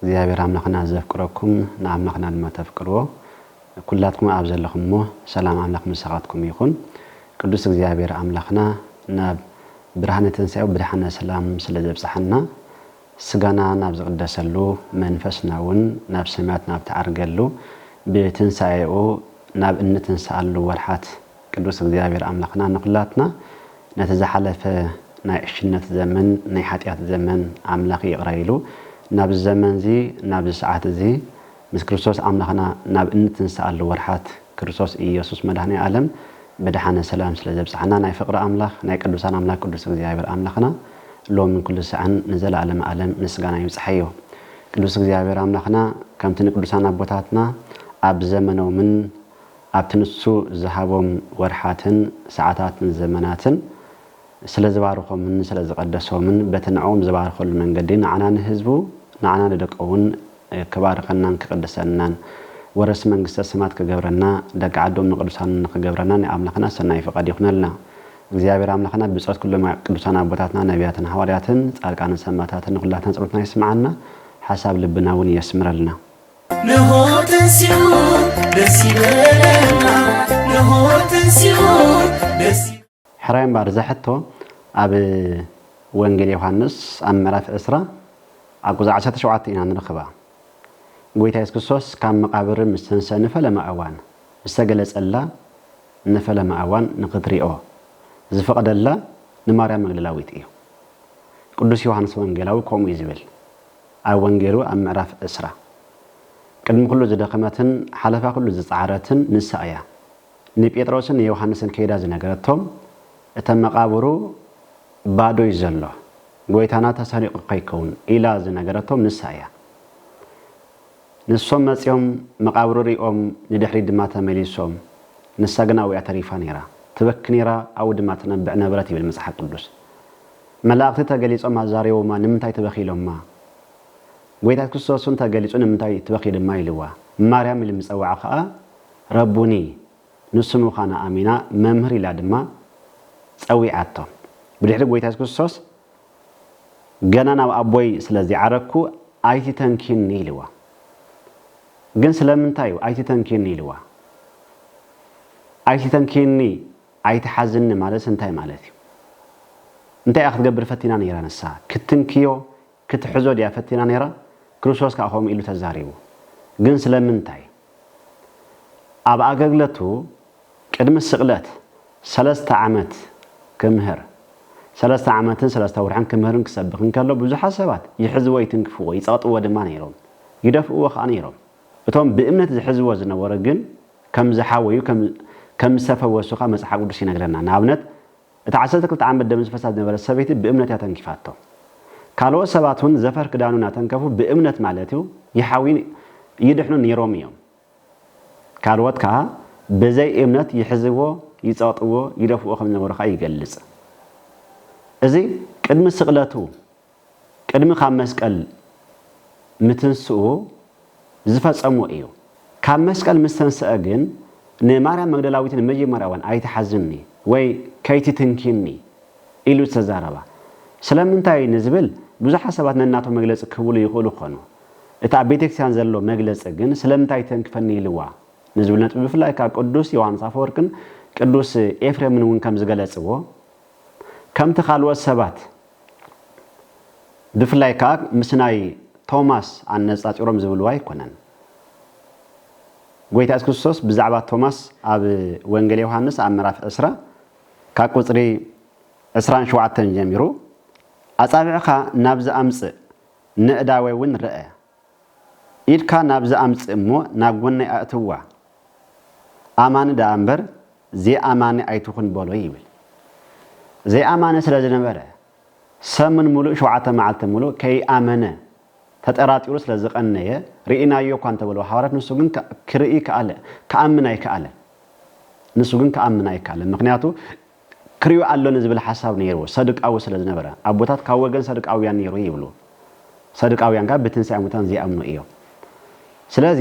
እግዚኣብሔር ኣምላኽና ዘፍቅረኩም ንኣምላኽና ድማ ተፍቅርዎ ኩላትኩም ኣብ ዘለኹምዎ ሰላም ኣምላኽ ምሳኻትኩም ይኹን ቅዱስ እግዚኣብሔር ኣምላኽና ናብ ብርሃነ ትንሣኤው ብድሓነ ሰላም ስለ ዘብጽሓና ስጋና ናብ ዝቕደሰሉ መንፈስና እውን ናብ ሰማያት ናብ ትዓርገሉ ብትንሣኤኡ ናብ እንትንሣኣሉ ወርሓት ቅዱስ እግዚኣብሔር ኣምላኽና ንኹላትና ነቲ ዝሓለፈ ናይ ዕሽነት ዘመን ናይ ሓጢኣት ዘመን ኣምላኽ ይቕረ ኢሉ ናብዚ ዘመን እዚ ናብዚ ሰዓት እዚ ምስ ክርስቶስ ኣምላኽና ናብ እንትንሰኣሉ ወርሓት ክርስቶስ ኢየሱስ መድኃኔ ዓለም ብደሓነ ሰላም ስለ ዘብጽሓና ናይ ፍቕሪ ኣምላኽ ናይ ቅዱሳን ኣምላኽ ቅዱስ እግዚኣብሔር ኣምላኽና ሎምን ኩሉ ሰዓን ንዘለዓለመ ዓለም ምስጋና ይብጽሓዮ። ቅዱስ እግዚኣብሔር ኣምላኽና ከምቲ ንቅዱሳን ኣቦታትና ኣብ ዘመኖምን ኣብቲ ንሱ ዝሃቦም ወርሓትን ሰዓታትን ዘመናትን ስለ ዝባርኾምን ስለ ዝቐደሶምን በቲ ንዕኡም ዝባርኸሉ መንገዲ ንዓና ንህዝቡ ንዓና ንደቁውን ክባርኸናን ክቕድሰናን ወረስቲ መንግስተ ሰማት ክገብረና ደቂ ዓዶም ንቅዱሳኑ ንክገብረና ናይ ኣምላኽና ሰናይ ፍቓድ ይኹነልና እግዚኣብሔር ኣምላኽና ብጸሎት ኩሎም ቅዱሳን ኣቦታትና ነቢያትን ሃዋርያትን ጻድቃንን ሰማታትን ንኹላትና ጸሎትና ይስምዓና ሓሳብ ልብና እውን የስምረልና ነሆ ተንሲኡ ደስ ይበለና ነሆ ተንሲኡ ደስ ሕራይ እምበኣር እዛ ሕቶ ኣብ ወንጌል ዮሃንስ ኣብ ምዕራፍ ዕስራ ኣብ ቁጽሪ ዓሰርተ ሸውዓተ ኢና ንረኽባ። ጎይታ የሱስ ክርስቶስ ካብ መቓብር ምስ ተንስኣ ንፈለማ እዋን ዝተገለጸላ ንፈለማ እዋን ንኽትሪኦ ዝፈቐደላ ንማርያም መግደላዊት እዩ። ቅዱስ ዮሃንስ ወንጌላዊ ከምኡ እዩ ዝብል። ኣብ ወንጌሉ ኣብ ምዕራፍ ዕስራ፣ ቅድሚ ዅሉ ዝደኸመትን ሓለፋ ዅሉ ዝጸዓረትን ንሳ እያ። ንጴጥሮስን ንዮሃንስን ከይዳ ዝነገረቶም፣ እተ መቓብሩ ባዶ እዩ ዘሎ፣ ጐይታና ተሰሪቑ ኸይከውን ኢላ ዝነገረቶም ንሳ እያ። ንሶም መጺኦም መቓብሩ ርእዮም ንድሕሪት ድማ ተመሊሶም፣ ንሳ ግና ኣብኡ እያ ተሪፋ ነይራ። ትበኪ ነይራ፣ ኣብኡ ድማ ትነብዕ ነበረት ይብል መጽሓፍ ቅዱስ። መላእክቲ ተገሊጾም ኣዛሪቦማ ንምንታይ ትበኪ ኢሎማ ጎይታ ክርስቶስ ውን ተገሊጹ ንምንታይ ትበኪ ድማ ኢልዋ ማርያም ኢሉ ምጸውዓ ከኣ ረቡኒ ንሱ ምዃና ኣሚና መምህር ኢላ ድማ ጸዊዓቶ ብድሕሪ ጎይታ የሱስ ክርስቶስ ገና ናብ ኣቦይ ስለ ዘይዓረግኩ ኣይትተንኪኒ ኢልዋ ግን ስለምንታይ እዩ ኣይትተንኪኒ ኢልዋ ኣይትተንኪኒ ኣይትሓዝኒ ማለትስ እንታይ ማለት እዩ? እንታይ እያ ክትገብር ፈቲና ነይራ ንሳ? ክትንክዮ፣ ክትሕዞ ድያ ፈቲና ነይራ? ክርስቶስ ከኣ ከምኡ ኢሉ ተዛሪቡ። ግን ስለምንታይ? ኣብ ኣገልግለቱ ቅድሚ ስቕለት ሰለስተ ዓመት ክምህር፣ ሰለስተ ዓመትን ሰለስተ ወርሕን ክምህርን ክሰብኽን ከሎ ብዙሓት ሰባት ይሕዝዎ ይትንክፍዎ ይጸቕጥዎ ድማ ነይሮም። ይደፍእዎ ከኣ ነይሮም። እቶም ብእምነት ዝሕዝዎ ዝነበሩ ግን ከም ዝሓወዩ ከም ዝተፈወሱኻ መጽሓፍ ቅዱስ ይነግረና። ንኣብነት እታ ዓሰርተ ክልተ ዓመት ደም ዝፈሳ ዝነበረት ሰበይቲ ብእምነት እያ ተንኪፋቶ። ካልኦት ሰባት እውን ዘፈር ክዳኑ እናተንከፉ ብእምነት ማለት እዩ ይሓውዩን ይድሕኑን ነይሮም እዮም። ካልኦት ከኣ ብዘይ እምነት ይሕዝዎ፣ ይጸቕጥዎ፣ ይደፍእዎ ከም ዝነበሩ ከኣ ይገልጽ። እዚ ቅድሚ ስቕለቱ ቅድሚ ካብ መስቀል ምትንስኡ ዝፈጸሞ ኢዩ። ካብ መስቀል ምስ ተንስኣ ግን ንማርያም መግደላዊት ንመጀመርያ'ውን ኣይትሓዝኒ ወይ ከይትትንኪኒ ኢሉ ዝተዛረባ ስለምንታይ ንዝብል ብዙሓት ሰባት ነናቶም መግለጺ ክህብሉ ይኽእሉ ክኾኑ። እቲ ኣብ ቤተክርስቲያን ዘሎ መግለጺ ግን ስለምንታይ ተንክፈኒ ኢልዋ ንዝብል ነጥቢ ብፍላይ ከኣ ቅዱስ ዮሓንስ ኣፈወርቅን ቅዱስ ኤፍሬምን'ውን ከም ዝገለጽዎ ከምቲ ካልኦት ሰባት ብፍላይ ከኣ ምስ ናይ ቶማስ ኣነጻጺሮም ዝብልዎ ኣይኮነን። ጎይታ የሱስ ክርስቶስ ብዛዕባ ቶማስ ኣብ ወንጌል ዮሃንስ ኣብ ምዕራፍ ዕስራ ካብ ቁጽሪ ዕስራን ሸውዓተን ጀሚሩ ኣጻብዕኻ ናብዚ ኣምጽእ፣ ነእዳወይ እውን ርኣ፣ ኢድካ ናብዚ ኣምጽእ እሞ ናብ ጎነይ ኣእትዋ፣ ኣማኒ ደኣ እምበር ዘይኣማኒ ኣይትኹን በሎ ይብል። ዘይኣማኒ ስለ ዝነበረ፣ ሰሙን ምሉእ ሸውዓተ መዓልቲ ምሉእ ከይኣመነ ተጠራጢሩ ስለ ዝቐነየ፣ ርኢናዮ እኳ እንተ በልዎ ሃዋርያት ንሱ ግን ክርኢ ክኣለ፣ ክኣምን ኣይክኣለን። ንሱ ግን ክኣምን ኣይክኣለን፣ ምኽንያቱ ክሪኡ ኣሎኒ ዝብል ሓሳብ ነይሩ ሰዱቃዊ ስለ ዝነበረ ኣቦታት ካብ ወገን ሰዱቃውያን ነይሩ ይብሉ ሰዱቃውያን ከኣ ብትንሳኤ ሙታን ዘይኣምኑ እዮም ስለዚ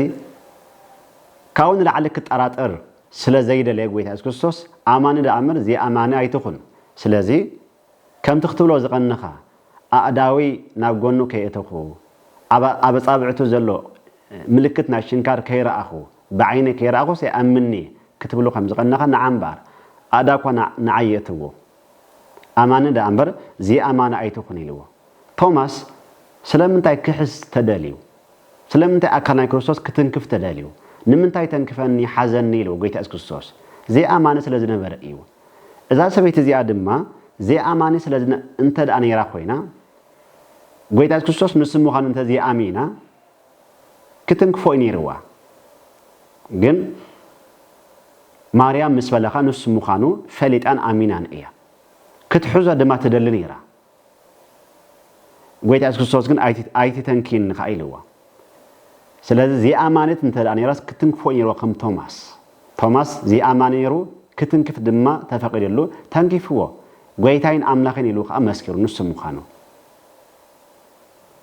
ካብኡ ንላዕሊ ክጠራጠር ስለ ዘይደለየ ጎይታ የሱስ ክርስቶስ ኣማኒ ደኣ እምበር ዘይኣማኒ ኣይትኹን ስለዚ ከምቲ ክትብሎ ዝቐነኻ ኣእዳወይ ናብ ጎኑ ከየእተኹ ኣብ ኣጻብዕቱ ዘሎ ምልክት ናይ ሽንካር ከይረኣኹ ብዓይነይ ከይረኣኹስ ኣይኣምንን'የ ክትብሉ ከም ዝቐነኻ ንዓ እምበኣር ኣእዳኳ ንዓይ የእትዎ። ኣማኒ ደኣ እምበር ዘይኣማኒ ኣይትኹን ኢልዎ። ቶማስ ስለምንታይ ክሕስ ተደልዩ? ስለምንታይ ኣካል ናይ ክርስቶስ ክትንክፍ ተደልዩ? ንምንታይ ተንክፈኒ ሓዘኒ ኢልዎ ጎይታ የሱስ ክርስቶስ? ዘይኣማኒ ስለ ዝነበረ እዩ። እዛ ሰበይቲ እዚኣ ድማ ዘይኣማኒ ስለ እንተደኣ ነይራ ኮይና ጎይታ የሱስ ክርስቶስ ንሱ ምዃኑ እንተ ዘይኣሚና ክትንክፎ'ዩ ነይርዋ ግን ማርያም ምስ በለኻ ንሱ ምዃኑ ፈሊጣን ኣሚናን እያ ክትሕዞ ድማ ትደሊ ነይራ ጎይታ የሱስ ክርስቶስ ግን ኣይትተንክይኒ ከኣ ኢልዋ ስለዚ ዘይኣማኒት እንተ ነይራስ ክትንክፎ ነይርዎ ከም ቶማስ ቶማስ ዘይኣማኒ ነይሩ ክትንክፍ ድማ ተፈቒድሉ ተንኪፍዎ ጎይታይን ኣምላኽን ኢሉ ከዓ መስኪሩ ንሱ ምዃኑ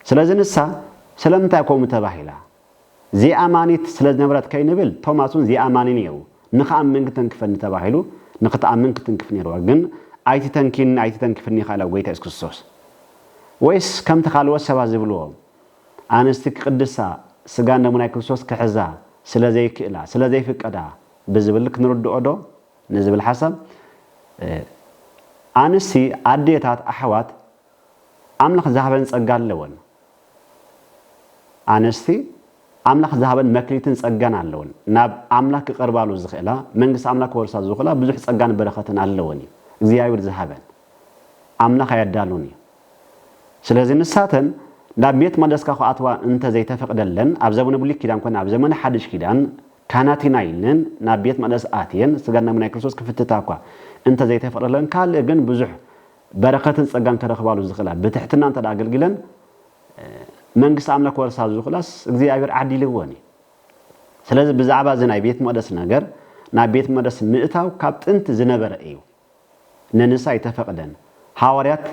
ስለዚ ንሳ ስለምንታይ ከምኡ ተባሂላ? ዘይኣማኒት ስለ ዝነበረት ከይንብል፣ ቶማስ እውን ዘይኣማኒ ነይሩ። ንኽኣምን ክተንክፈኒ ተባሂሉ፣ ንኽትኣምን ክትንክፍ ነይርዋ። ግን ኣይትተንኪኒ ኣይትተንክፍኒ ኢኻ ኢላ ጐይታ የሱስ ክርስቶስ። ወይስ ከምቲ ካልኦት ሰባት ዝብልዎ፣ ኣንስቲ ክቕድሳ፣ ስጋን ደሙን ናይ ክርስቶስ ክሕዛ ስለ ዘይክእላ፣ ስለ ዘይፍቀዳ ብዝብል ክንርድኦዶ? ንዝብል ሓሳብ፣ ኣንስቲ፣ ኣዴታት፣ ኣሕዋት፣ ኣምላኽ ዝሃበን ጸጋ ኣለወን። ኣንስቲ ኣምላኽ ዝሃበን መክሊትን ጸጋን ኣለወን። ናብ ኣምላኽ ክቐርባሉ ዝኽእላ፣ መንግስቲ ኣምላኽ ክወርሳ ዝኽእላ ብዙሕ ጸጋን በረኸትን ኣለወን እዩ። እግዚኣብሔር ዝሃበን ኣምላኽ ኣየዳሉን እዩ። ስለዚ ንሳተን ናብ ቤት መቅደስካ ክኣትዋ እንተ ዘይተፈቕደለን ኣብ ዘመነ ብሉይ ኪዳን ኮነ ኣብ ዘመነ ሓድሽ ኪዳን ካህናት ኢና ኢለን ናብ ቤት መቅደስ ኣትየን ስጋን ደምን ናይ ክርስቶስ ክፍትታ እኳ እንተ ዘይተፈቕደለን ካልእ ግን ብዙሕ በረከትን ጸጋን ከረክባሉ ዝክእላ ብትሕትና እንተ ኣገልጊለን መንግስቲ ኣምላክ ክወርሳ ዝክእላስ እግዚኣብሔር ዓዲልወን እዩ ስለዚ ብዛዕባ እዚ ናይ ቤት መቅደስ ነገር ናብ ቤት መቅደስ ምእታው ካብ ጥንቲ ዝነበረ እዩ ንንሳ ኣይተፈቅደን ሃዋርያት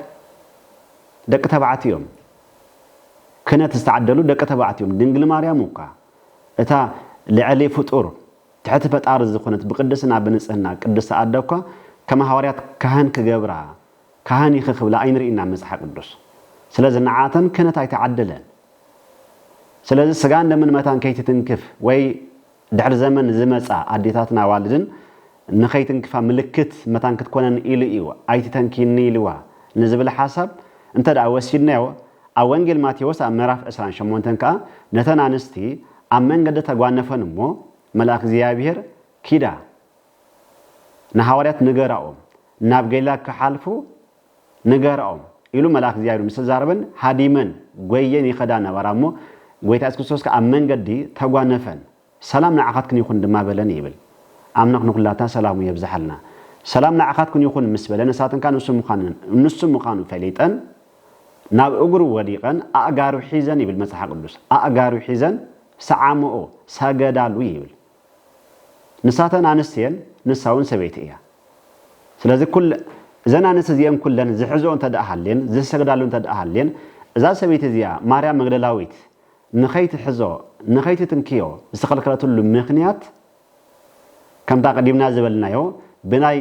ደቂ ተባዕት እዮም ክነት ዝተዓደሉ ደቂ ተባዕት እዮም ድንግል ማርያም እኳ እታ ልዕሊ ፍጡር ትሕቲ ፈጣሪ ዝኮነት ብቅድስና ብንጽህና ቅድስቲ ኣደ እኳ ከም ሃዋርያት ካህን ክገብራ ካህን ኢኪ ክብላ ኣይንርኢን ኣብ መጽሓ ቅዱስ ስለዚ ንዓኣተን ክህነት ኣይተዓደለን ስለዚ ስጋን ደምን መታን ከይትትንክፍ ወይ ድሕሪ ዘመን ዝመጻ ኣዴታትን ኣዋልድን ንከይትንክፋ ምልክት መታን ክትኮነን ኢሉ እዩ ኣይትተንክይኒ ኢልዋ ንዝብል ሓሳብ እንተ ወሲድናዮ ኣብ ወንጌል ማቴዎስ ኣብ ምዕራፍ ዕስራን ሸሞንተን ከኣ ነተን ኣንስቲ ኣብ መንገዲ ተጓነፈን እሞ መልኣክ እግዚኣብሔር ኪዳ ንሃዋርያት ንገራኦም ናብ ገሊላ ክሓልፉ ንገራኦም ኢሉ መልኣክ እግዚኣብሔር ምስ ተዛረበን ሃዲመን ጎየን ይኸዳ ነበራ እሞ ጎይታ የሱስ ክርስቶስ ከኣ ኣብ መንገዲ ተጓነፈን ሰላም ንዓኻትክን ይኹን ድማ በለን ይብል ኣምላኽ ንኹላትና ሰላሙ የብዝሓልና ሰላም ንዓኻትክን ይኹን ምስ በለን ንሳተን ከኣ ንሱ ምዃኑ ፈሊጠን ናብ እግሩ ወዲቐን ኣእጋሩ ሒዘን ይብል መጽሓ ቅዱስ ኣእጋሩ ሒዘን ሰዓምኦ፣ ሰገዳሉ፣ ይብል። ንሳተን ኣንስቲ እየን ንሳውን ሰበይቲ እያ። ስለዚ ኩለ እዘን ኣንስቲ እዚኤን ኩለን ዝሕዝኦ እንተደኣ ሃልየን ዝሰግዳሉ እንተደኣ ሃልየን እዛ ሰበይቲ እዚኣ ማርያም መግደላዊት ንኸይትሕዞ ንኸይትትንክዮ ዝተኸልከለትሉ ምኽንያት ከምታ ቀዲምና ዝበልናዮ ብናይ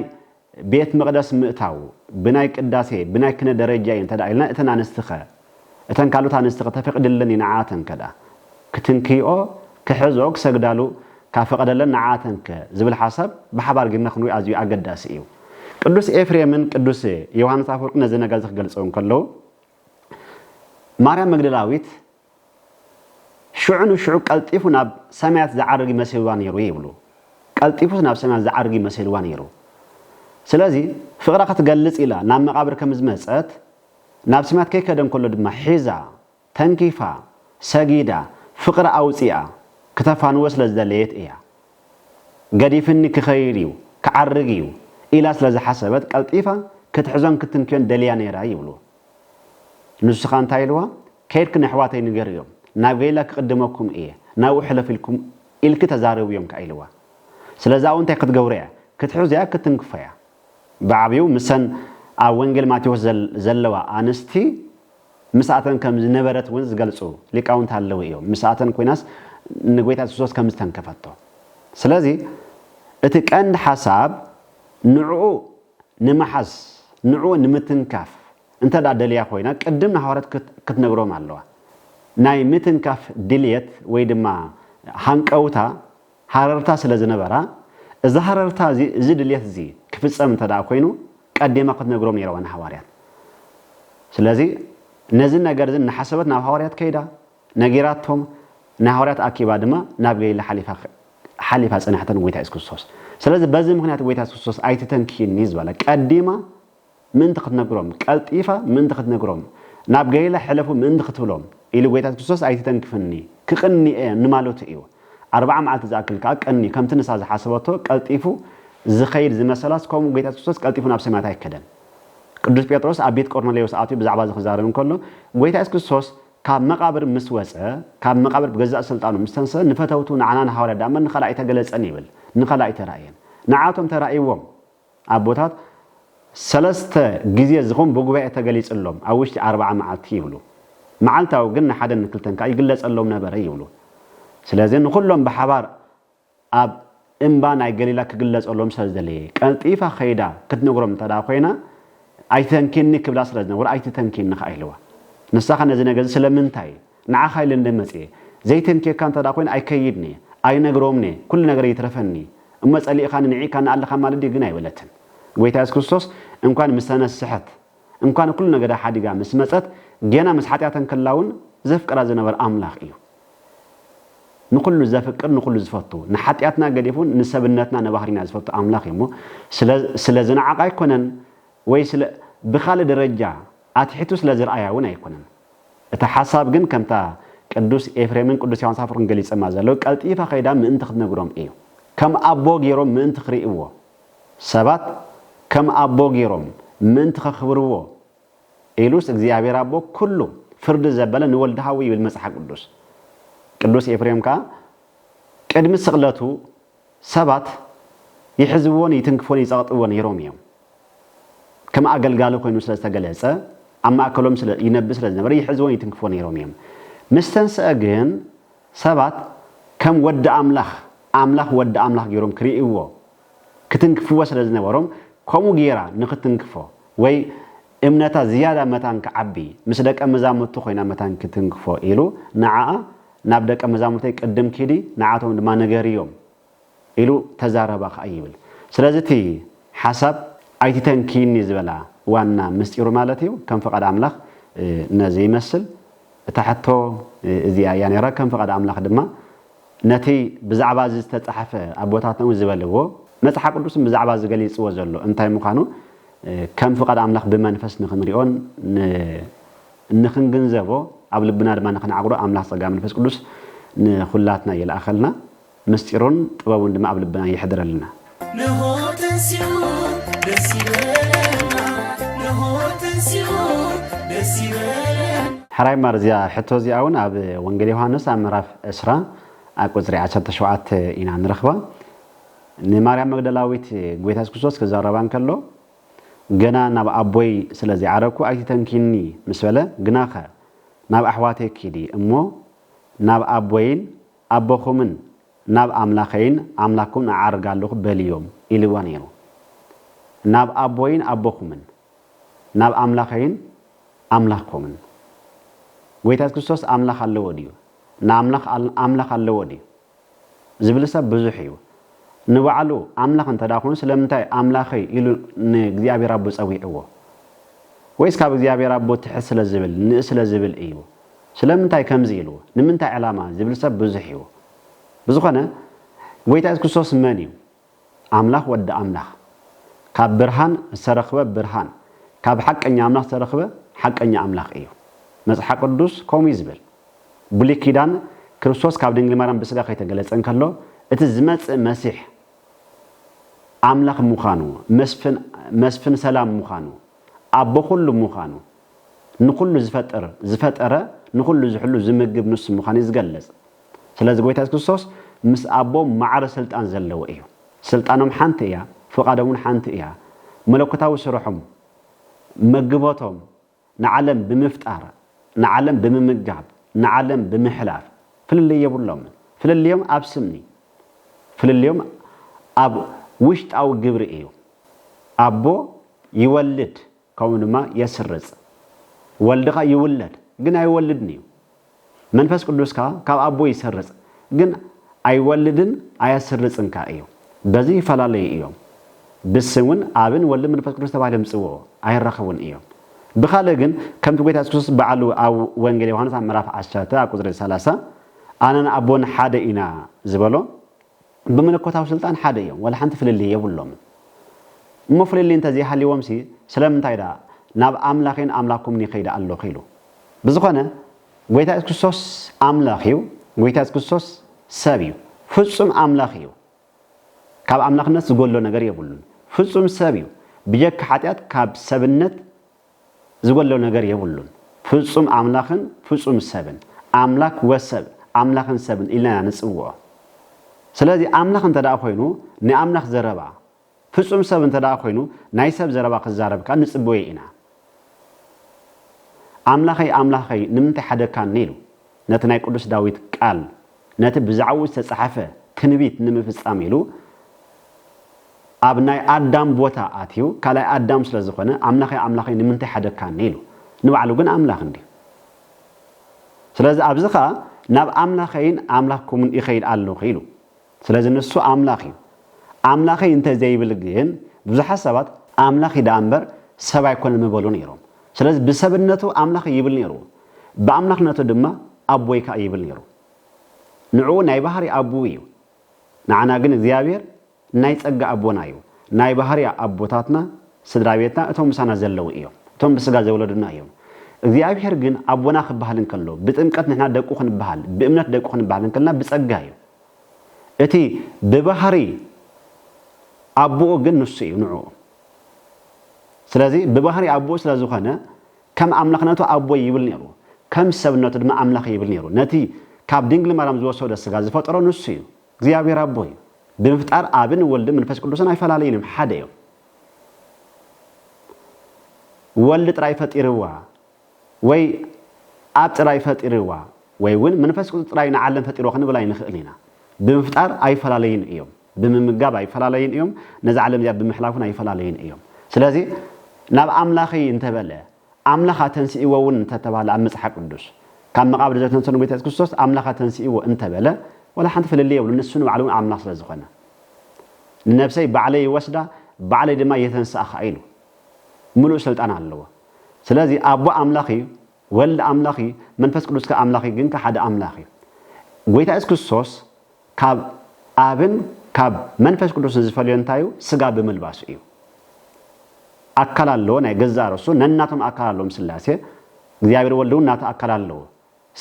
ቤት መቕደስ ምእታው ብናይ ቅዳሴ ብናይ ክነ ደረጃ እዩ እንተድኣ ኢልና እተን ኣንስትኸ? እተን ካልኦት ኣንስትኸ ተፈቅድለን እዩ ንዓኣተን ከድኣ ክትንክይኦ ክሕዝኦ ክሰግዳሉ ካብ ፈቐደለን ንዓኣተንከ ዝብል ሓሳብ ብሓባር ጌርና ክንሪኦ ኣዝዩ ኣገዳሲ እዩ። ቅዱስ ኤፍሬምን ቅዱስ ዮሓንስ ኣፈወርቅን ነዚ ነገር እዚ ክገልጽዎ እንከለዉ ማርያም መግደላዊት ሽዑ ንሽዑ ቀልጢፉ ናብ ሰማያት ዝዓርግ መሲልዋ ነይሩ ይብሉ። ቀልጢፉስ ናብ ሰማያት ዝዓርግ መሲልዋ ነይሩ። ስለዚ ፍቕራ ክትገልጽ ኢላ ናብ መቓብር ከም ዝመጸት፣ ናብ ሰማያት ከይከደ እንከሎ ድማ ሒዛ፣ ተንኪፋ፣ ሰጊዳ፣ ፍቕራ ኣውጺኣ ክተፋንዎ ስለ ዝደለየት እያ። ገዲፍኒ ክኸይድ እዩ፣ ክዓርግ እዩ ኢላ ስለ ዝሓሰበት ቀልጢፋ ክትሕዞን ክትንክዮን ደልያ ነይራ ይብሉ። ንስኻ እንታይ ኢልዋ ከይድኪ ነሕዋተይ ንገርዮም ናብ ገይላ ክቅድመኩም እየ ናብኡ ሕለፍ ኢልኩም ኢልኪ ተዛረብዮም ከኣ ኢልዋ ስለዚ ኣብኡ እንታይ ክትገብሮ እያ ክትሕዞያ ክትንክፎያ ብዓብዩ ምሰን ኣብ ወንጌል ማቴዎስ ዘለዋ ኣንስቲ ምስኣተን ከም ዝነበረት እውን ዝገልጹ ሊቃውንቲ ኣለዉ እዮም ምስኣተን ኮይናስ ንጎይታ የሱስ ክርስቶስ ከም ዝተንከፈቶ ስለዚ እቲ ቀንዲ ሓሳብ ንዕኡ ንምሓዝ ንዕኡ ንምትንካፍ እንተ ድኣ ደልያ ኮይና ቅድም ንሃዋርያት ክትነግሮም ኣለዋ። ናይ ምትንካፍ ድልየት ወይ ድማ ሃንቀውታ፣ ሃረርታ፣ ስለ ዝነበራ እዚ ሃረርታ እዚ እዚ ድልየት እዚ ክፍጸም እንተ ድኣ ኮይኑ ቀዲማ ክትነግሮም ነይርዋ ንሃዋርያት። ስለዚ ነዚ ነገር እዚ እናሓሰበት ናብ ሃዋርያት ከይዳ ነጊራቶም ንሃዋርያት ኣኪባ ድማ ናብ ገሊላ ሓሊፋ ሓሊፋ ጸንሐተ ንጎይታ የሱስ ክርስቶስ ስለዚ በዚ ምክንያት ጎይታ የሱስ ክርስቶስ ኣይትተንክይኒ ዝበለ ቀዲማ ምእንቲ ክትነግሮም ቀልጢፋ ምእንቲ ክትነግሮም ናብ ገሊላ ሕለፉ ምእንቲ ክትብሎም ኢሉ ጎይታ የሱስ ክርስቶስ ኣይትተንክፍኒ ክቅኒየ ንማለቱ እዩ ኣርብዓ መዓልቲ ዝኣክል ከኣ ቀንዩ ከምቲ ንሳ ዝሓሰበቶ ቀልጢፉ ዝኸይድ ዝመሰላስ ከምኡ ጎይታ የሱስ ክርስቶስ ቀልጢፉ ናብ ሰማያት ኣይከደን ቅዱስ ጴጥሮስ ኣብ ቤት ቆርኔሌዎስ ኣትዩ ብዛዕባ እዚ ክዛረብ እንከሎ ጎይታ የሱስ ክርስቶስ ካብ መቓብር ምስ ወጸ፣ ካብ መቓብር ብገዛእ ስልጣኑ ምስ ተንሰ፣ ንፈተውቱ ንዓና ንሃዋርያት ደኣ'ምበር ንኸላእይ ተገለጸን ይብል፣ ንኸላእይ ተራእየን። ንዓኣቶም ተራእይዎም፣ ኣቦታት ሰለስተ ግዜ ዝኸውን ብጉባኤ ተገሊጽሎም፣ ኣብ ውሽጢ ኣርብዓ መዓልቲ ይብሉ። መዓልታዊ ግን ንሓደን ንክልተን ከኣ ይግለጸሎም ነበረ ይብሉ። ስለዚ ንኹሎም ብሓባር ኣብ እምባ ናይ ገሊላ ክግለጸሎም ስለ ዝደለየ፣ ቀልጢፋ ከይዳ ክትነግሮም እንተ ደኣ ኰይና፣ ኣይትተንኪኒ ክብላ ስለ ዝነበሮ፣ ኣይትተንኪኒ ኸኣ ኢልዋ። ንሳ ኸኣ ነዚ ነገር እዚ ስለምንታይ ንዓኻ ኢለ እንደ መጽኤ፣ ዘይተንክየካ እንተ ደኣ ኰይነ ኣይከይድን እየ፣ ኣይነግሮምን እየ፣ ኵሉ ነገረይ ይትረፈኒ፣ እሞ ጸሊእኻኒ ንዒቕካኒ ኣለኻ ማለት ድዩ? ግን ኣይበለትን። ጐይታ የሱስ ክርስቶስ እንኳን ምስ ተነስሐት እንኳ ንኩሉ ነገዳ ሓዲጋ ምስ መጸት ገና ምስ ሓጢኣት እንክላውን ዘፍቅራ ዝነበረ ኣምላኽ እዩ ንኩሉ ዘፍቅር ንኩሉ ዝፈቱ ንሓጢኣትና ገዲፉን ንሰብነትና ንባህሪና ዝፈቱ ኣምላኽ እዩ እሞ ስለ ስለ ዝነዓቃ ኣይኮነን ወይ ስለ ብካልእ ደረጃ ኣትሒቱ ስለ ዝርኣያ እውን ኣይኮነን እታ ሓሳብ ግን ከምታ ቅዱስ ኤፍሬምን ቅዱስ ዮሐንስ ኣፈወርቅን ገሊጸማ ዘለዉ ቀልጢፋ ከይዳ ምእንቲ ክትነግሮም እዩ ከም ኣቦ ገይሮም ምእንቲ ክርእይዎ ሰባት ከም ኣቦ ገይሮም ምእንቲ ከኽብርዎ ኢሉስ እግዚኣብሔር ኣቦ ኩሉ ፍርዲ ዘበለ ንወልድ ኃዉ ይብል መጽሓ ቅዱስ። ቅዱስ ኤፍሬም ከኣ ቅድሚ ስቕለቱ ሰባት ይሕዝዎን ይትንክፎን ይጸቕጥዎ ነይሮም እዮም። ከም ኣገልጋሊ ኮይኑ ስለ ዝተገለጸ ኣብ ማእከሎም ይነብር ስለ ዝነበረ ይሕዝዎን ይትንክፎን ነይሮም እዮም። ምስ ተንሥኣ ግን ሰባት ከም ወዲ ኣምላኽ፣ ኣምላኽ ወዲ ኣምላኽ ገይሮም ክርእይዎ፣ ክትንክፍዎ ስለ ዝነበሮም፣ ከምኡ ገይራ ንኽትንክፎ ወይ እምነታ ዝያዳ መታን ክዓቢ፣ ምስ ደቀ መዛሙርቱ ኮይና መታን ክትንክፎ ኢሉ ንዓኣ፣ ናብ ደቀ መዛሙርተይ ቅድም ኪዲ፣ ንዓቶም ድማ ንገርዮም ኢሉ ተዛረባ ከኣ ይብል ስለዚ እቲ ሓሳብ ኣይትተንክይኒ ዝበላ ዋና ምስጢሩ ማለት እዩ ከም ፍቃድ ኣምላኽ ነዚ ይመስል እታ ሕቶ እዚኣ እያ ነይራ ከም ፍቃድ ኣምላኽ ድማ ነቲ ብዛዕባ እዚ ዝተጻሕፈ ኣቦታትና እውን ዝበልዎ መጽሓ ቅዱስን ብዛዕባ እዚ ገሊጽዎ ዘሎ እንታይ ምዃኑ ከም ፍቃድ ኣምላኽ ብመንፈስ ንኽንሪኦን ንኽንግንዘቦ ኣብ ልብና ድማ ንኽንዓቅዶ ኣምላኽ ጸጋ መንፈስ ቅዱስ ንኹላትና ይልኣኸልና ምስጢሩን ጥበቡን ድማ ኣብ ልብና የሕድረልና። ነሆ ተንሥኡ ደስ ይበለና ነሆ ተንሥኡ ደስ ይበለና። ሕራይ እምበኣር እዚኣ ሕቶ እዚኣ ውን ኣብ ወንጌል ዮሃንስ ኣብ ምዕራፍ ዕስራ ኣብ ቁጽሪ ዓሰርተ ሸውዓተ ኢና ንረኽባ። ንማርያም መግደላዊት ጎይታ የሱስ ክርስቶስ ክዛረባ እንከሎ ገና ናብ ኣቦይ ስለ ዘይዓረግኩ ኣይትተንክይኒ ምስ በለ ግናኸ ናብ ኣሕዋተይ ኪዲ እሞ ናብ ኣቦይን ኣቦኹምን ናብ ኣምላኸይን ኣምላክኩምን እዓርግ ኣሎኹ በልዮም ኢልዋ ነይሩ። ናብ ኣቦይን ኣቦኹምን፣ ናብ ኣምላኸይን ኣምላኽኩምን። ጐይታ የሱስ ክርስቶስ ኣምላኽ ኣለዎ ድዩ? ንኣምላኽ ኣምላኽ ኣለዎ ድዩ? ዝብል ሰብ ብዙሕ እዩ። ንባዕሉ ኣምላኽ እንተ ኾይኑ ስለምንታይ ኣምላኸይ ኢሉ ንእግዚኣብሔር ኣቦ ጸዊዕዎ? ወይስ ካብ እግዚኣብሔር ኣቦ ትሕት ስለ ዝብል፣ ንእስ ስለ ዝብል እዩ? ስለምንታይ ከምዚ ኢሉ? ንምንታይ ዕላማ? ዚብል ሰብ ብዙሕ እዩ። ብዝኾነ፣ ጐይታ የሱስ ክርስቶስ መን እዩ? ኣምላኽ፣ ወዲ ኣምላኽ። ካብ ብርሃን ዝተረኽበ ብርሃን፣ ካብ ሓቀኛ ኣምላኽ ዝተረኽበ ሓቀኛ ኣምላኽ እዩ። መጽሓ ቅዱስ ከምኡ እዩ ዚብል። ብሉይ ኪዳን፣ ክርስቶስ ካብ ድንግል ማርያም ብስጋ ከይተገለጸ እንከሎ፣ እቲ ዚመጽእ መሲሕ፣ ኣምላኽ ምዃኑ፣ መስፍን፣ መስፍን ሰላም ምዃኑ፣ ኣቦ ኵሉ ምዃኑ፣ ንኹሉ ዝፈጥር ዝፈጠረ ንኹሉ ዝሕሉ ዝምግብ ንሱ ምዃኑ እዩ ዝገልጽ። ስለዚ ጎይታ የሱስ ክርስቶስ ምስ ኣቦ ማዕረ ስልጣን ዘለዎ እዩ። ስልጣኖም ሓንቲ እያ፣ ፍቓዶም እውን ሓንቲ እያ። መለኮታዊ ስርሖም፣ መግቦቶም፣ ንዓለም ብምፍጣር፣ ንዓለም ብምምጋብ፣ ንዓለም ብምሕላፍ ፍልልይ የብሎምን። ፍልልዮም ኣብ ስም እዩ። ፍልልዮም ኣብ ውሽጣዊ ግብሪ እዩ። ኣቦ ይወልድ፣ ከምኡ ድማ የስርጽ። ወልድኻ ይውለድ ግን ኣይወልድን እዩ። መንፈስ ቅዱስ ከኣ ካብ ኣቦ ይሰርጽ ግን ኣይወልድን ኣያስርጽን ከኣ እዩ። በዚ ይፈላለዩ እዮም። ብስም እውን ኣብን ወልድን መንፈስ ቅዱስ ተባሂሎም ይጽውዑ ኣይራኸቡን እዮም። ብኻልእ ግን ከምቲ ጎይታ የሱስ ክርስቶስ ባዕሉ ኣብ ወንጌል ዮሃንስ ኣብ ምዕራፍ ዓሰርተ ኣብ ቁጽሪ ሰላሳ ኣነን ኣቦን ሓደ ኢና ዝበሎ ብመለኮታዊ ስልጣን ሓደ እዮም ዋላ ሓንቲ ፍልልይ የብሎምን እሞ ፍልልይ እንተዘይሃልይዎምሲ ስለምንታይ ደኣ ናብ ኣምላኼን ኣምላኩምን ይኸይድ ኣሎኹ ኢሉ ብዝኾነ ጎይታ የሱስ ክርስቶስ ኣምላኽ እዩ ጎይታ የሱስ ክርስቶስ ሰብ እዩ ፍጹም ኣምላኽ እዩ ካብ ኣምላኽነት ዝጎሎ ነገር የብሉን ፍጹም ሰብ እዩ ብጀካ ሓጢኣት ካብ ሰብነት ዝጎሎ ነገር የብሉን ፍጹም ኣምላኽን ፍጹም ሰብን ኣምላክ ወሰብ ኣምላኽን ሰብን ኢልና ኢና ንጽውዖ ስለዚ ኣምላኽ እንተ ኮይኑ ናይ ኣምላኽ ዘረባ ፍጹም ሰብ እንተ ኮይኑ ናይ ሰብ ዘረባ ክዛረብ ከኣ ንጽበዮ ኢና ኣምላኸይ ኣምላኸይ ንምንታይ ሓደግካኒ ኢሉ ነቲ ናይ ቅዱስ ዳዊት ቃል፣ ነቲ ብዛዕባኡ ዝተጻሕፈ ትንቢት ንምፍጻም ኢሉ፣ ኣብ ናይ ኣዳም ቦታ ኣትዩ፣ ካልኣይ ኣዳም ስለ ዝኾነ፣ ኣምላኸይ ኣምላኸይ ንምንታይ ሐደግካኒ? ኢሉ። ንባዕሉ ግን ኣምላኽ እንድዩ። ስለዚ ኣብዚ ኸኣ ናብ ኣምላኸይን ኣምላኽኩምን እኸይድ ኣሎኹ ኢሉ። ስለዚ ንሱ ኣምላኽ እዩ። ኣምላኸይ እንተ ዘይብል ግን ብዙሓት ሰባት ኣምላኽ እዩ ደኣ እምበር ሰብ ኣይኮነን ምበሉ ነይሮም። ስለዚ ብሰብነቱ ኣምላኸይ ይብል ነይሩ፣ ብኣምላኽነቱ ድማ ኣቦይ ከኣ ይብል ነይሩ። ንዕኡ ናይ ባህሪ ኣቡኡ እዩ። ንዓና ግን እግዚኣብሔር ናይ ጸጋ ኣቦና እዩ። ናይ ባህሪ ኣቦታትና ስድራ ቤትና እቶም ምሳና ዘለዉ እዮም። እቶም ብስጋ ዘውለዱና እዮም። እግዚኣብሔር ግን ኣቦና ክበሃል እንከሎ ብጥምቀት ንሕና ደቁ ክንበሃል ብእምነት ደቁ ክንበሃል እንከለና ብጸጋ እዩ። እቲ ብባህሪ ኣቡኡ ግን ንሱ እዩ ንዑኡ ስለዚ ብባህሪ ኣቡኡ ስለ ዝኾነ ከም ኣምላኽነቱ ኣቦይ ይብል ኔሩ ከም ሰብነቱ ድማ ኣምላኸይ ይብል ኔሩ ነቲ ካብ ድንግል ማርያም ዝወሰዶ ስጋ ዝፈጠሮ ንሱ እዩ እግዚኣብሔር ኣቦ እዩ ብምፍጣር ኣብን ወልድን መንፈስ ቅዱስን ኣይፈላለዩን እዮም ሓደ እዮም ወልድ ጥራይ ፈጢርዋ ወይ ኣብ ጥራይ ፈጢርዋ ወይ እውን መንፈስ ቅዱስ ጥራይ ንዓለም ፈጢርዋ ክንብል ኣይንኽእልን ኢና። ብምፍጣር ኣይፈላለዩን እዮም። ብምምጋብ ኣይፈላለዩን እዮም። ነዛ ዓለም እዚኣ ብምሕላፍ እውን ኣይፈላለዩን እዮም። ስለዚ ናብ ኣምላኸይ እንተበለ ኣምላኽ ኣተንሲእዎ እውን እንተተባህለ ኣብ መጽሓፍ ቅዱስ ካብ መቓብር ዘተንሰ ንጎይታ የሱስ ክርስቶስ ኣምላኽ ኣተንሲእዎ እንተበለ ወላ ሓንቲ ፍልልይ የብሉ ንሱ ንባዕሉ እውን ኣምላኽ ስለ ዝኾነ ንነብሰይ ባዕለይ ይወስዳ ባዕለይ ድማ የተንስኣ ከዓ ኢሉ ምሉእ ስልጣን ኣለዎ። ስለዚ ኣቦ ኣምላኽ እዩ፣ ወልድ ኣምላኽ እዩ፣ መንፈስ ቅዱስ ከኣ ኣምላኽ እዩ፣ ግንከ ሓደ ኣምላኽ እዩ። ጎይታ የሱስ ክርስቶስ ካብ ኣብን ካብ መንፈስ ቅዱስን ዝፈልዮ እንታይ እዩ? ስጋ ብምልባሱ እዩ። ኣካል ኣለዎ ናይ ገዛእ ርእሱ፣ ነናቶም ኣካል ኣለዎም ስላሴ፣ እግዚኣብሔር ወልድ እውን ናቱ ኣካል ኣለዎ።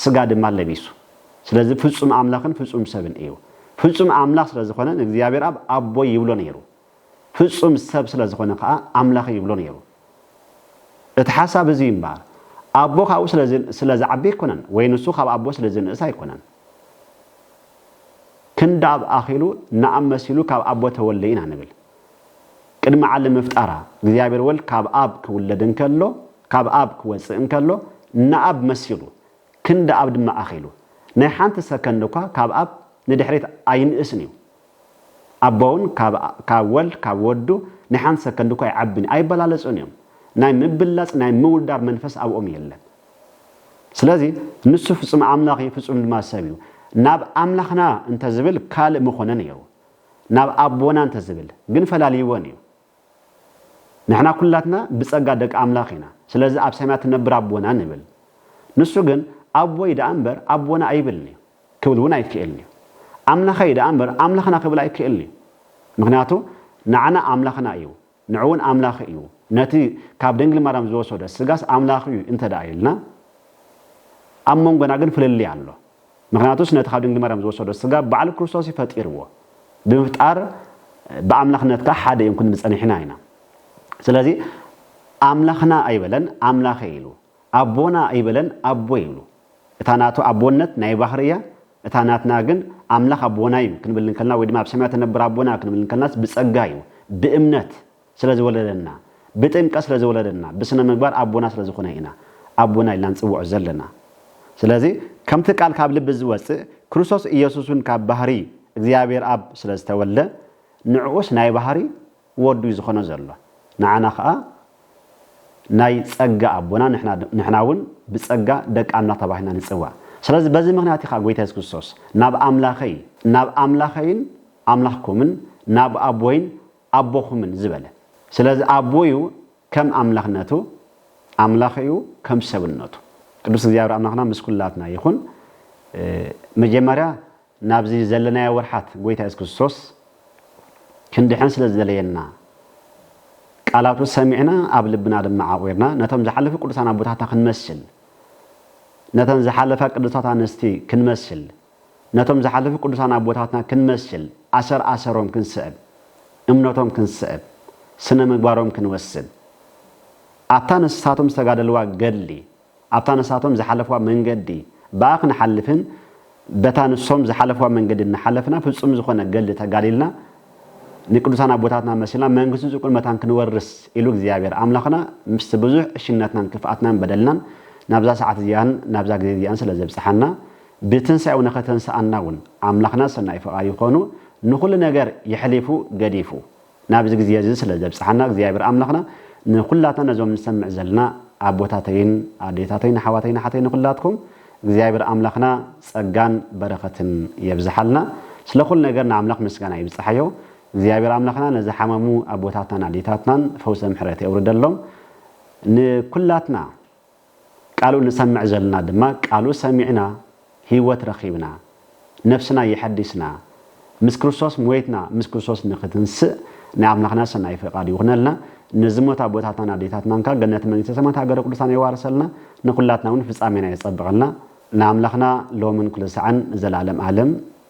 ስጋ ድማ ለቢሱ። ስለዚ ፍጹም ኣምላኽን ፍጹም ሰብን እዩ። ፍጹም ኣምላኽ ስለ ዝኾነ ንእግዚኣብሔር ኣብ ኣቦይ ይብሎ ነይሩ። ፍጹም ሰብ ስለ ዝኾነ ከኣ ኣምላኸይ ይብሎ ነይሩ። እቲ ሓሳብ እዚ እዩ እምበኣር። ኣቦ ካብኡ ስለ ዝዓቢ ኣይኮነን፣ ወይ ንሱ ካብ ኣቦ ስለ ዝንእስ ኣይኮነን። ክንዲ ኣብ ኣኺሉ ንኣብ መሲሉ ካብ ኣቦ ተወልደ ኢና ንብል። ቅድሚ ዓለም ምፍጣራ፣ እግዚኣብሔር ወልድ ካብ ኣብ ክውለድ እንከሎ፣ ካብ ኣብ ክወጽእ እንከሎ፣ ንኣብ መሲሉ፣ ክንዲ ኣብ ድማ ኣኺሉ፣ ናይ ሓንቲ ሰከንድ እኳ ካብ ኣብ ንድሕሪት ኣይንእስን እዩ። ኣቦውን ካብ ወልድ ካብ ወዱ ናይ ሓንቲ ሰከንድ እኳ ኣይዓብን እዩ። ኣይበላለጹን እዮም። ናይ ምብላጽ ናይ ምውዳር መንፈስ ኣብኦም የለን። ስለዚ ንሱ ፍጹም ኣምላኽ እዩ፣ ፍጹም ድማ ሰብ እዩ። ናብ ኣምላኽና እንተዝብል ካልእ ምኾነ ነይሩ። ናብ ኣቦና እንተዝብል ግን ፈላልይወን እዩ ንሕና ኩላትና ብጸጋ ደቂ ኣምላኽ ኢና ስለዚ ኣብ ሰማያት ትነብር ኣቦና ንብል ንሱ ግን ኣቦይ ደኣ እምበር ኣቦና ኣይብልን እዩ ክብል እውን ኣይክእልን እዩ ኣምላኸይ ደኣ እምበር ኣምላኽና ክብል ኣይክእልን እዩ ምክንያቱ ንዓና ኣምላኽና እዩ ንዕኡውን ኣምላኽ እዩ፣ ነቲ ካብ ድንግል ማርያም ዝወሰዶ ስጋስ ኣምላኽ እዩ እንተ ደኣ ኢልና፣ ኣብ መንጎና ግን ፍልልይ ኣሎ። ምኽንያቱስ ነቲ ካብ ድንግል ማርያም ዝወሰዶ ስጋ ባዕሉ ክርስቶስ እዩ ፈጢርዎ። ብምፍጣር ብኣምላኽነት ከኣ ሓደ እዮም ክንብል ጸኒሕና ኢና። ስለዚ ኣምላኽና ኣይበለን፣ ኣምላኸይ ኢሉ። ኣቦና ኣይበለን ኣቦ ይብሉ እታ ናቱ ኣቦነት ናይ ባህሪ እያ እታ ናትና ግን ኣምላኽ ኣቦና እዩ ክንብል እንከልና ወይ ድማ ኣብ ሰማያት እትነብር ኣቦና ክንብል እንከልናስ ብጸጋ እዩ ብእምነት ስለ ዝወለደና ብጥምቀት ስለ ዝወለደና ብስነ ምግባር ኣቦና ስለ ዝኾነ ኢና ኣቦና ኢልና ንጽውዖ ዘለና ስለዚ ከምቲ ቃል ካብ ልቢ ዝወጽእ ክርስቶስ ኢየሱስ እውን ካብ ባህሪ እግዚኣብሔር ኣብ ስለ ዝተወልደ ንዕኡስ ናይ ባህሪ ወዱ እዩ ዝኾኖ ዘሎ ንዓና ከኣ ናይ ጸጋ ኣቦና ንሕና ንሕና ውን ብጸጋ ደቂ ኣምላኽ ተባሂልና ንጽዋዕ ስለዚ በዚ ምኽንያት ኢኻ ጎይታ የሱስ ክርስቶስ ናብ ኣምላኸይ ናብ ኣምላኸይን ኣምላኽኩምን ናብ ኣቦይን ኣቦኹምን ዝበለ ስለዚ ኣቦ እዩ ከም ኣምላኽነቱ ኣምላኽ እዩ ከም ሰብነቱ ቅዱስ እግዚኣብሔር ኣምላኽና ምስ ኩላትና ይኹን መጀመርያ ናብዚ ዘለናዮ ወርሓት ጎይታ የሱስ ክርስቶስ ክንድሕን ስለ ዝደለየና ቃላቱ ሰሚዕና ኣብ ልብና ድማ ዓቑርና ነቶም ዝሓለፉ ቅዱሳን ኣቦታትና ክንመስል ነተን ዝሓለፋ ቅዱሳት ኣንስቲ ክንመስል ነቶም ዝሓለፉ ቅዱሳን ኣቦታትና ክንመስል ኣሰር ኣሰሮም ክንስዕብ እምነቶም ክንስዕብ ስነ ምግባሮም ክንወስድ ኣብታ ንሳቶም ዝተጋደልዋ ገድሊ ኣብታ ንሳቶም ዝሓለፍዋ መንገዲ ብኣ ክንሓልፍን በታ ንሶም ዝሓለፍዋ መንገዲ እናሓለፍና ፍጹም ዝኾነ ገድሊ ተጋዲልና ንቅዱሳን ኣቦታትና መሲልና መንግስቱ ጽድቁን መታን ክንወርስ ኢሉ እግዚኣብሔር ኣምላኽና ምስቲ ብዙሕ ዕሽነትናን ክፍኣትናን በደልናን ናብዛ ሰዓት እዚኣን ናብዛ ግዜ እዚኣን ስለ ዘብጽሓና ብትንሣኤኡ ንኸተንስኣና እውን ኣምላኽና ሰናይ ፍቓዱ ኮይኑ ንኹሉ ነገር የሕሊፉ ገዲፉ ናብዚ ግዜ እዚ ስለ ዘብጽሓና እግዚኣብሔር ኣምላኽና ንኩላትና ነዞም ንሰምዕ ዘለና ኣቦታተይን ኣዴታተይን ኣሕዋተይን ኣሓተይ ንኩላትኩም እግዚኣብሔር ኣምላኽና ጸጋን በረኸትን የብዝሓልና ስለ ኩሉ ነገር ንኣምላኽ ምስጋና ይብጽሓዮ እግዚኣብሔር ኣምላኽና ንዝሓመሙ ኣቦታትናን ኣዴታትናን ፈውሰ ምሕረት የውርደሎም ንኩላትና ቃሉ ንሰምዕ ዘልና ድማ ቃሉ ሰሚዕና ህይወት ረኺብና ነፍስና የሐዲስና ምስ ክርስቶስ ሞይትና ምስ ክርስቶስ ንኽትንስእ ናይ ኣምላኽና ሰናይ ፍቓድ ይኹነልና ንዝሞት ኣቦታትናን ኣዴታትናን ከኣ ገነት መንግስተ ሰማያት ሃገረ ቅዱሳን የዋርሰልና ንኹላትና ውን ፍጻሜና የጸብቐልና ንኣምላኽና ሎምን ኩሉ ሳዕን ንዘልኣለም ኣለም